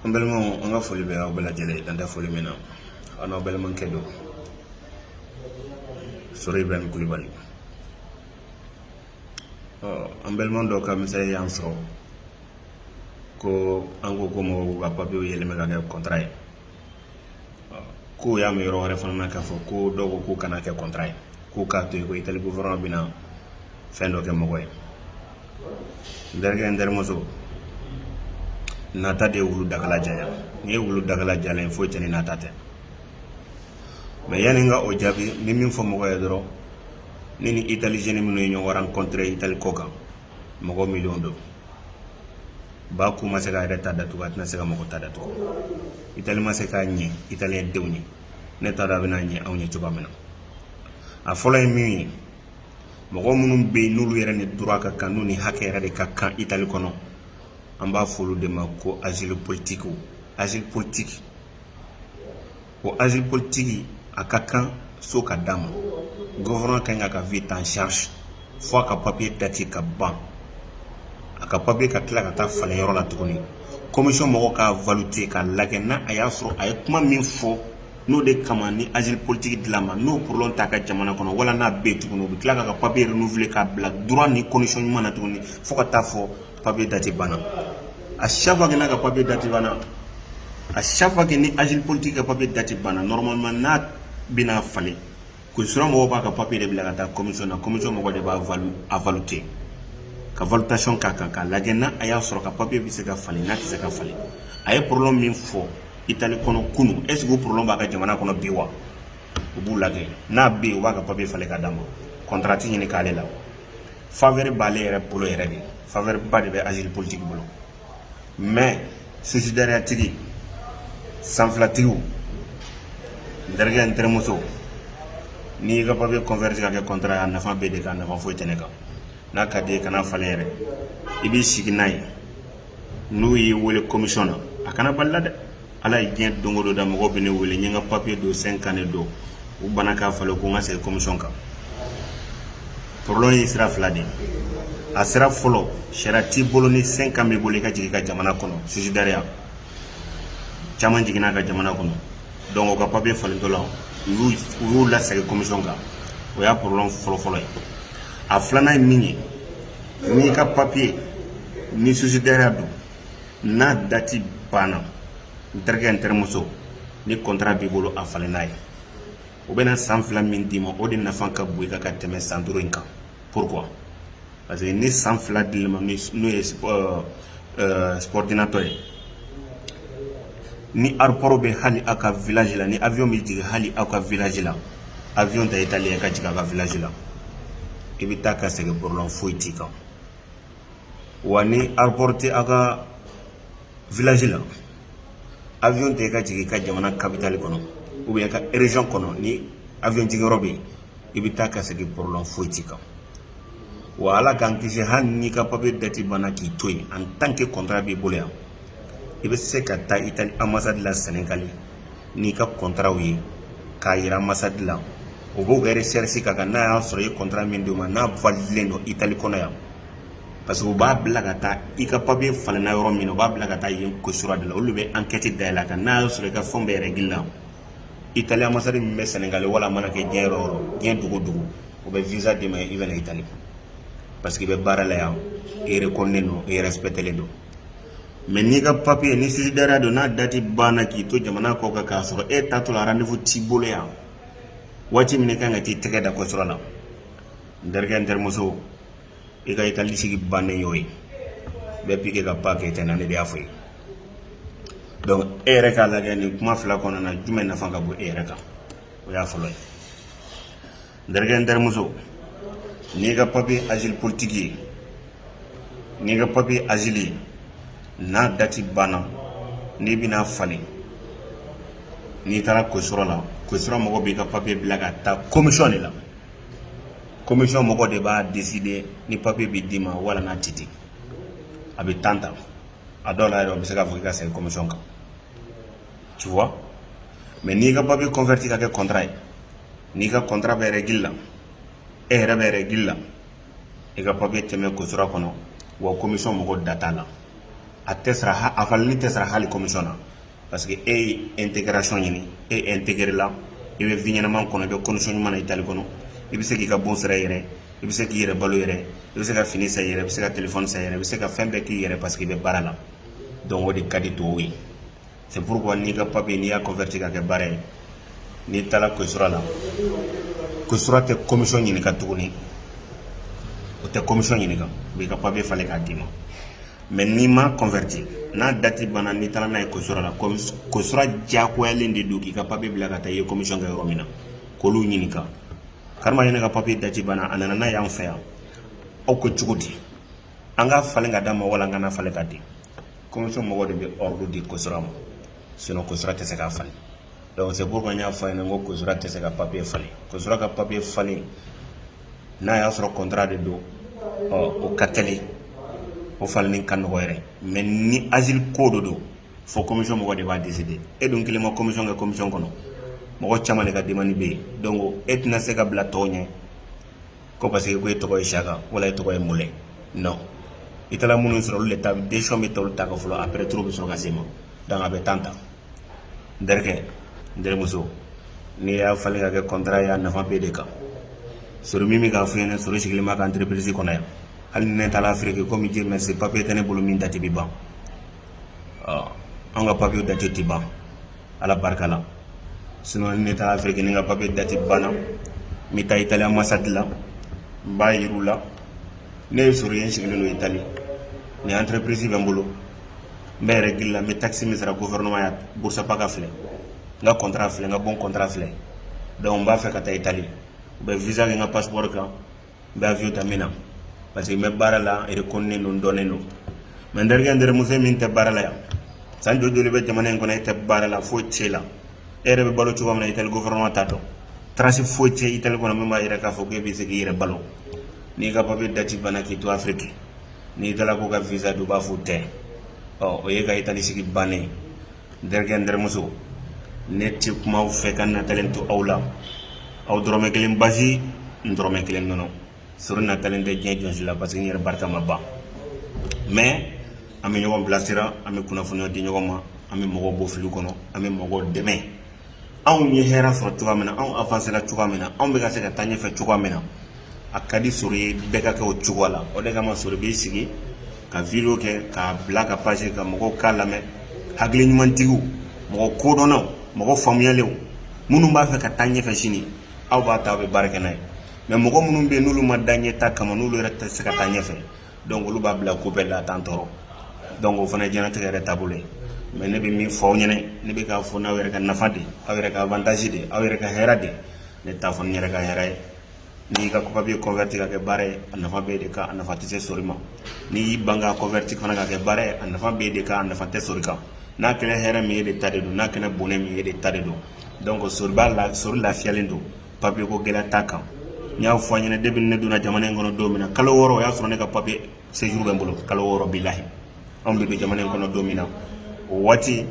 an balimaw an ka foli bɛ aw bɛɛ lajɛlen ye dan tɛ foli min na aw n'aw balimakɛ don sori ibrahim kulubali ɔ an balima dɔ ka mesazi y'an sɔrɔ ko an ko ko mɔgɔw ka papiyew yɛlɛma ka kɛ kɔntara ye k'o y'a mɛn yɔrɔ wɛrɛ fana na k'a fɔ ko dɔw ko k'u kana kɛ kɔntara ye k'u k'a to yen ko itali gofɛrɛnaman bɛna fɛn dɔ kɛ mɔgɔ ye n terikɛ n terimuso nata de ye wulu dagala janya n'i ye wulu dagala janya ye foyi tɛ ni nata tɛ mɛ yanni n ka o jaabi n bɛ min fɔ mɔgɔ ye dɔrɔn ne ni italiyɛn minnu ye ɲɔgɔn rankɔntire itali ko kan mɔgɔ miliyɔn don ba ku ma se k'a yɛrɛ ta datugu a tɛna se ka mɔgɔ ta datugu itali ma se ka ɲɛ italiyɛn denw ye ne t'a dɔn a bɛna ɲɛ anw ye cogoya min na a fɔlɔ ye min ye mɔgɔ minnu bɛ yen n'olu yɛrɛ ni droit ka kan n'u ni hakɛ yɛrɛ de ka kan itali kɔnɔ an b'a fɔ olu de ma ko azili politikiw azili politiki ko azili politiki a ka kan so ka d'a ma gouvernement ka kan k'a ka vie ta en charge fo a ka papiye dati ka ban a ka papiye ka tila ka taa falen yɔrɔ la tuguni komisɔn mɔgɔ k'a valute k'a lajɛ n'a a y'a sɔrɔ a ye kuma min fɔ n'o de kama ni azili politiki dil'a ma n'o problème t'a ka jamana kɔnɔ wala n'a bɛ tuguni u bɛ tila k'a ka papiye renouveler k'a bila droit ni condition ɲuman na tuguni fo ka taa fo papiye dati banna a chaque fois que n'a ka papiye dati banna a chaque fois que ni asile politique ka papiye dati banna normalement n'a bɛna falen questura mɔgɔw b'a ka papiye de bila ka taa commission na commission mɔgɔ de b'a valu a valute ka valutation k'a kan k'a lajɛ n'a a y'a sɔrɔ ka papiye bɛ se ka falen n'a tɛ se ka falen a ye problème min fɔ itali kɔnɔ kunu est ce que o problème b'a ka jamana kɔnɔ bi wa u b'o lajɛ n'a bɛ yen u b'a ka papiye falen ka d'a ma contrat ɲini t'ale la faveur b'ale yɛrɛ bolo yɛrɛ de faveur ba de bɛ azili politiki bolo mais susidariyatigi sanfilatigiw n terikɛ n terimuso n'i y'i ka papiye converti ka kɛ kɔntara ye a nafa b'e de kan nafa foyi tɛ ne kan n'a ka d'i ye kan'a falen yɛrɛ i b'i sigi n'a ye n'u y'i wele komisɔn na a kana bal'i la dɛ ala ye diɲɛ don dɔ da mɔgɔ bɛ ne wele n ka papiye dun cinq ans de don u bana k'a falen ko n ka segin komisɔn kan problème ye sira fila de a sira fɔlɔ sariya t'i bolo ni cinq ans b'i bolo i ka jigin i ka jamana kɔnɔ susidariya caman jiginna ka jamana kɔnɔ dɔnku o ka papiye falentɔ la u y'u lasegin komisɔn kan o y'a problème fɔlɔfɔlɔ ye a filanan ye min ye N'i ka papier ni susidariya don n'a dati banna n terikɛ n terimuso ni contrat b'i bolo a falen n'a ye u bɛna san fila min d'i ma o de nafa ka bon i kan ka tɛmɛ san duuru in kan pourquoi parce que ni san fila dil'i ma n'o ye subor euh, euh, subordinato ye ni aéroport bɛ hali aw ka village la ni avion bɛ jigin hali aw ka village la avion ta itali i ka jigin aw ka village la i bɛ taa ka segin problème foyi t'i kan wa ni aéroport tɛ aw ka village la avion ta i ka jigin i ka jamana capitale kɔnɔ ou bien i ka région kɔnɔ ni avion jigiyɔrɔ bɛ yen i bɛ taa ka segin problème foyi t'i kan wa ala k'an kisi hali n'i ka papiye dati banna k'i to yen en tant que kɔntara b'i bolo yan i bɛ se ka taa itali amasadi la sɛnɛgali n'i ka kɔntaraw ye k'a yira amasadi la o b'o ka resɛrisi k'a kan n'a y'a sɔrɔ i ye kɔntara min d'o ma n'a validilen don itali kɔnɔ yan parce que u b'a bila ka taa i ka papiye falenna yɔrɔ min na u b'a bila ka taa yen kosura de la olu bɛ ankɛti dayɛlɛ a kan n'a y'a sɔrɔ i ka fɛnw bɛɛ bɛ règle la itali amasadi min bɛ sɛnɛgali wala a mana kɛ diɲɛ yɔrɔ o yɔrɔ diɲɛ dugu o dugu o bɛ visa d'i ma i bɛ na itali parce que i bɛ baara la yan i rekɔnnen don i respectelen don mɛ n'i ka papiye ni sussidiaria don n'a dati banna k'i to jamana kɔ kan k'a sɔrɔ e taatɔla rendez-vous t'i bolo yan waati min kan ka t'i tɛgɛ da kosura la n terikɛ n terimuso i ka i ka lisigi bannen y'o ye bɛɛ bi kɛ ka ba kɛ tɛna ne de y'a fɔ i ye donc e yɛrɛ k'a lajɛ nin kuma fila kɔnɔna na jumɛn nafa ka bon e yɛrɛ kan o y'a fɔlɔ ye n terikɛ n terimuso n'i ka papiye azili politiki ye n'i ka papiye azili ye n'a dati banna n'i bɛn'a falen n'i taara kosura la kosura mɔgɔ b'i ka papiye bila ka taa komisiyɔn de la komisiyɔn mɔgɔw de b'a décider ni papiye bɛ d'i ma wala n'a tɛ di a bɛ tan ta a dɔw la yɛrɛ bɛ se k'a fɔ i ka segin komisiyɔn kan ci mɛ n'i ka papiye converti ka kɛ kɔntara ye n'i ka kɔntara bɛ règle la e yɛrɛ bɛ règle la i ka papiye tɛ mɛn kosura kɔnɔ wa komisiyɔn mɔgɔ da t'a la a tɛ a falenni tɛ sara hali komisiyɔn na parce que e ye intégration ɲini e intégré la i bɛ vie ɲɛnama kɔnɔ i bɛ condition ɲuman na itali kɔnɔ i bɛ se k'i ka bon sara i yɛrɛ i bɛ se k'i yɛrɛ balo i yɛrɛ i bɛ se ka fini san i yɛrɛ i bɛ se ka téléphone san i yɛrɛ i bɛ se ka fɛn bɛɛ k'i yɛrɛ parce que i bɛ baara la donc o de ka di tɔw ye c'est pourquoi n'i ka papier n'i y'a converti ka kɛ baara ye n'i taara kosura la kosura tɛ commission ɲininka tuguni o tɛ commission ɲininka u b'i ka papier falen k'a d'i ma mɛ n'i m'a converti n'a dati banna n'i taara n'a ye kosura la kosura diyagoyalen de don k'i ka papiye bila ka taa i ye komisiyɔn kɛ yɔrɔ min na k'olu ɲininka kari nin ka papiye dati banna a nana n'a y'an fɛ yan aw ko cogo di an k'a falen k'a d'a ma wala an kan'a falen k'a di komisiyɔn mɔgɔ de b'a di kosura ma sinon kosura tɛ se k'a falen dɔw se bɔ y'a fɔ i ye ko kosura tɛ se ka papiye falen kosura ka papiye falen n'a y'a sɔrɔ kɔntara de don o ka teli o falen ka nɔgɔ yɛrɛ mɛ ni asile ko don donc fo commission mɔgɔ de b'a décidé e dun kelen ma commission kɛ commission kɔnɔ mɔgɔ caman de ka demande bɛ yen donc e tɛna se ka bila tɔw ɲɛ ko parce que ko e tɔgɔ ye saka wala e tɔgɔ ye mɔ nɔn i taara minnu sɔrɔ olu de ta bɛ ta ka fɔlɔ après tour bɛ sɔrɔ ka se i ma dan a bɛ tan ta n terikɛ n terimuso n'i y'a falen ka kɛ kɔntara ye a nafa b'e de kan sori min bɛ ka fɛn ne sori sigilen bɛ n ka entreprise kɔnɔ yan hali ne taara afiriki kɔmi bɛ jɛ mɛ se papiye tɛ ne bolo min dati bɛ ban an ka papiye dati tɛ ban ala barika la s ne taara afiriki ne ka papiye dati banna n bɛ taa itali ambassade la n b'a jira u la ne ye sori ye sigilen don itali ni entreprise bɛ n bolo n bɛ règle la n bɛ taxe min sara gouvernement ye busta paga filɛ n ka kɔntara filɛ n ka banki kɔnti filɛ donc n b'a fɛ ka taa itali u bɛ visa bila n ka passeport kan n bɛ fi ta min na parce que n bɛ baara la e ko ne don dɔnnen don mɛ n terikɛ n terimuso e min tɛ baara la yan san jo joli i bɛ jamana in kɔnɔ e tɛ baara la foyi t'e la e yɛrɛ bɛ balo cogo min na itali gouvernement t'a dɔn trace foyi tɛ itali kɔnɔ min b'a yira k'a fɔ ko e bɛ se k' i yɛrɛ balo n'i ka papiye dati banna k'i to afiriki n'i taara ko ka visa don u b'a fɔ u tɛ ɔ o y'e ka itali sigi bannen n terikɛ n terimuso ne tɛ kuma aw fɛ ka n natalen to aw la aw dɔrɔmɛ kelen basi n dɔrɔmɛ kelen nɔnɔ sori natalen tɛ diɲɛ jɔn si la parce que n yɛrɛ barika ma ban mɛ an bɛ ɲɔgɔn bilasira an bɛ kunnafoniya di ɲɔgɔn ma an bɛ mɔgɔw bɔ fili kɔnɔ an bɛ mɔgɔw dɛmɛ anw ye hɛrɛ sɔrɔ cogoya min na anw avansela cogoya min na anw bɛ ka se ka taa ɲɛfɛ cogoya min na a ka di sori ye bɛɛ ka kɛ o cogoya la o de kama sori b'i sigi ka video kɛ k'a bila ka pase ka mɔgɔw k'a lamɛn hakili ɲumantigiw mɔgɔ kodɔnnaw mɔgɔ faamuyalenw minnu b'a fɛ ka taa ɲɛfɛ sini aw b'a ta aw bɛ baara kɛ n'a ye mɛ mɔgɔ minnu bɛ yen n'olu ma da ɲɛtaa kama n'olu yɛrɛ tɛ se ka taa ɲɛfɛ donc olu b'a bila ko bɛɛ la tan tɔɔrɔ donc o fana ye diɲɛnatigɛ yɛrɛ taabolo ye mais ne bɛ min fɔ aw ɲɛna ne bɛ k'a fɔ n'aw yɛrɛ ka nafa de aw yɛrɛ ka avantage de aw yɛrɛ ka hɛrɛ de ne t'a fɔ n yɛrɛ ka hɛrɛ ye n'i ka papier converti ka kɛ baara ye a nafa b'e de kan a nafa tɛ se sori ma n'i y'i ban ka converti fana ka kɛ baara ye a nafa b'e de kan a nafa tɛ sori kan n'a kɛra hɛrɛ min ye e de ta de don n'a kɛra bonɛ min ye e de ta de don donc sori ba la sori lafiyalen don papier ko gɛlɛya t'a kan n y'a fɔ a ɲɛna depuis ne donna jamana in kɔnɔ don min na kalo wɔɔrɔ o y'a sɔrɔ ne ka papier séjour bɛ n bolo kalo wɔɔrɔ bilahi anw bɛ don jamana in kɔnɔ don min na o waati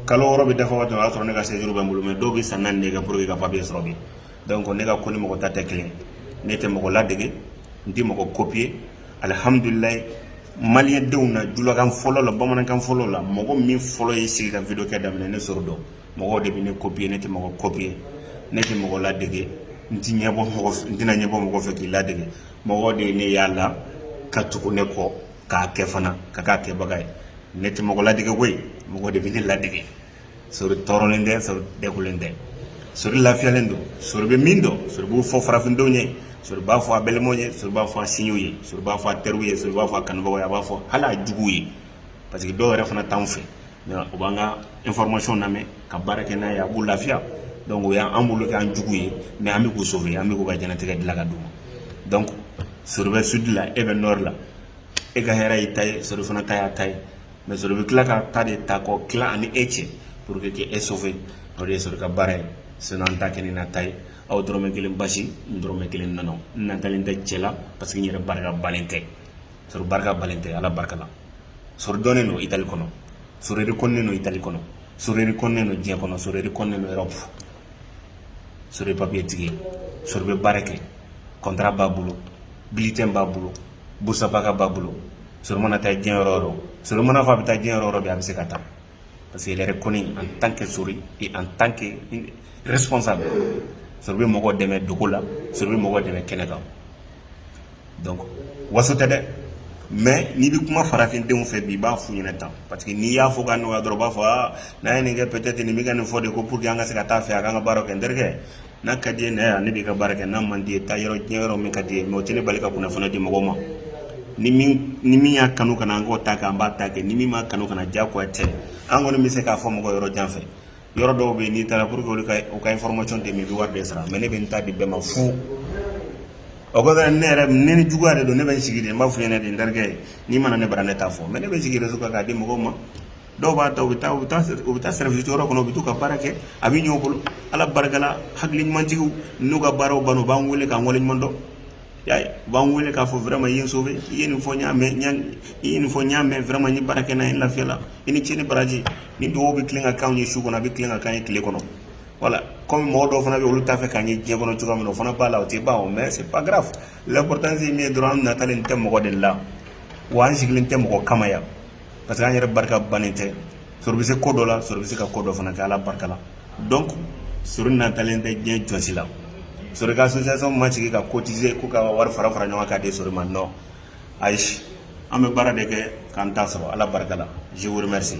kalo wɔɔrɔ bɛ dafa waati o y'a sɔrɔ ne ka séjour bɛ n bolo mais dɔw bɛ san naani de kɛ pour que ka papier sɔrɔ bi donc ne ka ko ni mɔgɔ ta tɛ kelen ye ne tɛ mɔgɔ ladege n tɛ mɔgɔ copier alihamudulilayi maliyɛndenw na julakan fɔlɔ la bamanankan fɔlɔ la mɔgɔ min fɔlɔ ye sigi ka video kɛ daminɛ ne sori don mɔgɔw de bɛ ne copier ne tɛ mɔgɔ copier ne tɛ mɔgɔ ladege n tɛ ɲɛbɔ mɔgɔ n tɛna ɲɛbɔ mɔgɔ fɛ k'i ladege mɔgɔ de ye ne y'a la ka tugu ne kɔ k'a kɛ fana ka k'a kɛbaga ye ne tɛ mɔgɔ ladege koyi mɔgɔ de bɛ ne ladege sori tɔɔrɔlen tɛ sori degulen tɛ sori lafiyalen don sori bɛ min dɔn sori b'o fɔ farafindenw ye sori b'a fɔ a balimaw ye sori b'a fɔ a sinjiw ye sori b'a fɔ a teriw ye sori b'a fɔ a kanubagaw ye a b'a fɔ hali a juguw ye parce que dɔw yɛrɛ fana t'anw fɛ u b'an ka information lamɛn ka baara kɛ n'a ye a b'u lafiya donc o y'an bolo k'an jugu ye mais an bɛ k'u sauver an bɛ k'u ka diɲɛlatigɛ dilan ka d'u ma donc sori bɛ sud la e bɛ nord la e ka hɛrɛ y'i ta ye sori fana ta y'a ta ye mais sori bɛ tila k'a ta de ta k'o tila a ni e cɛ pour que k'e sauver o de ye sori ka baara ye sinon an t'a kɛ ni nata ye aw dɔrɔmɛ kelen basi n dɔrɔmɛ kelen nɔnɔ n natalen tɛ cɛ la parce que n yɛrɛ barika bannen tɛ sori barika bannen tɛ ala barika la sori dɔnnen don itali kɔnɔ sori rekɔnnen don itali kɔnɔ sori rekɔnnen don diɲɛ kɔnɔ sori rekɔnnen don erɔpu sori papiye tigi sori bɛ baara kɛ contrat b'a bolo bulletin b'a bolo busta paga b'a bolo sori mana taa diɲɛ yɔrɔ o yɔrɔ sori man'a fɔ a bɛ taa diɲɛ yɔrɔ o yɔrɔ bɛ a bɛ se ka taa parce que yɛrɛ kɔni en tant que sori et en tant que responsable sori bɛ mɔgɔ dɛmɛ dogo la sori bɛ mɔgɔ dɛmɛ kɛnɛ kan waso tɛ dɛ mais n'i bɛ kuma farafindenw fɛ bi i b'a f'u ɲɛna ten parce que n'i y'a fɔ ka nɔgɔya dɔrɔn b'a fɔ n'a ye nin kɛ peut-être nin bɛ ka nin fɔ de ko pour que an ka se ka taa fɛ a ka ka baara kɛ n terikɛ n'a ka di ne yan ne bɛ ka baara kɛ n'a man di taa yɔrɔ diɲɛ yɔrɔ min ka d'i ye mais o tɛ ne bali ka kunnafoni di mɔgɔ ma ni min y'a kanu ka na an k'o ta kɛ an b'a ta kɛ ni min m'a kanu ka na diyagoya tɛ an kɔni bɛ se k'a fɔ mɔgɔ yɔrɔ jan fɛ yɔrɔ dɔw bɛ yen n'i taara pour que olu ka u ka information d'i ma i bɛ wari de sara mais ne bɛ n ta di bɛɛ ma fu o kɔfɛ ne yɛrɛ ne ni juguya de don ne bɛ n sigi de n b'a f'u ɲɛna de n terikɛ n'i ma na ne bara ne t'a fɔ mais ne bɛ n sigi réseau kan k'a di mɔgɔw ma dɔw b'a ta u bɛ taa u bɛ taa u bɛ taa service jɔyɔrɔ kɔnɔ u bɛ t'u ka baara kɛ a bɛ ɲɛ u bolo ala barika la hakili ɲumantigiw n'u ka baaraw banna u b'an wele k'an waleɲuman dɔn y'a ye u b'an wele k'a fɔ vraiment i ye n sauver i ye nin fɔ n y'a mɛn i ye nin fɔ n y'a mɛn vraiment n ye baara kɛ n'a ye n lafiyara i ni ce ni baraji ni dugawu bɛ tilen ka k'anw ye su kɔnɔ a bɛ tilen ka k'an ye tile kɔnɔ voilà comme mɔgɔ dɔw fana bɛ yen olu t'a fɛ k'an ye diɲɛ kɔnɔ cogoya min na o fana b'a la o tɛ ban o mais c'est pas grave l'importance ye min ye dɔrɔn an natalen tɛ mɔgɔ de la wa an sigilen tɛ mɔgɔ kama yan parce que an yɛrɛ barika bannen tɛ sori bɛ se ko dɔ la sori bɛ se ka ko dɔ fana kɛ ala barika la donc sori natalen tɛ diɲɛ jɔn si la sori ka association ma sigi ka cotiser k'u ka wari fara fara ɲɔgɔn kan k'a di sori ma non ayi an bɛ baara de kɛ k'an ta sɔrɔ ala barika la je vous remercie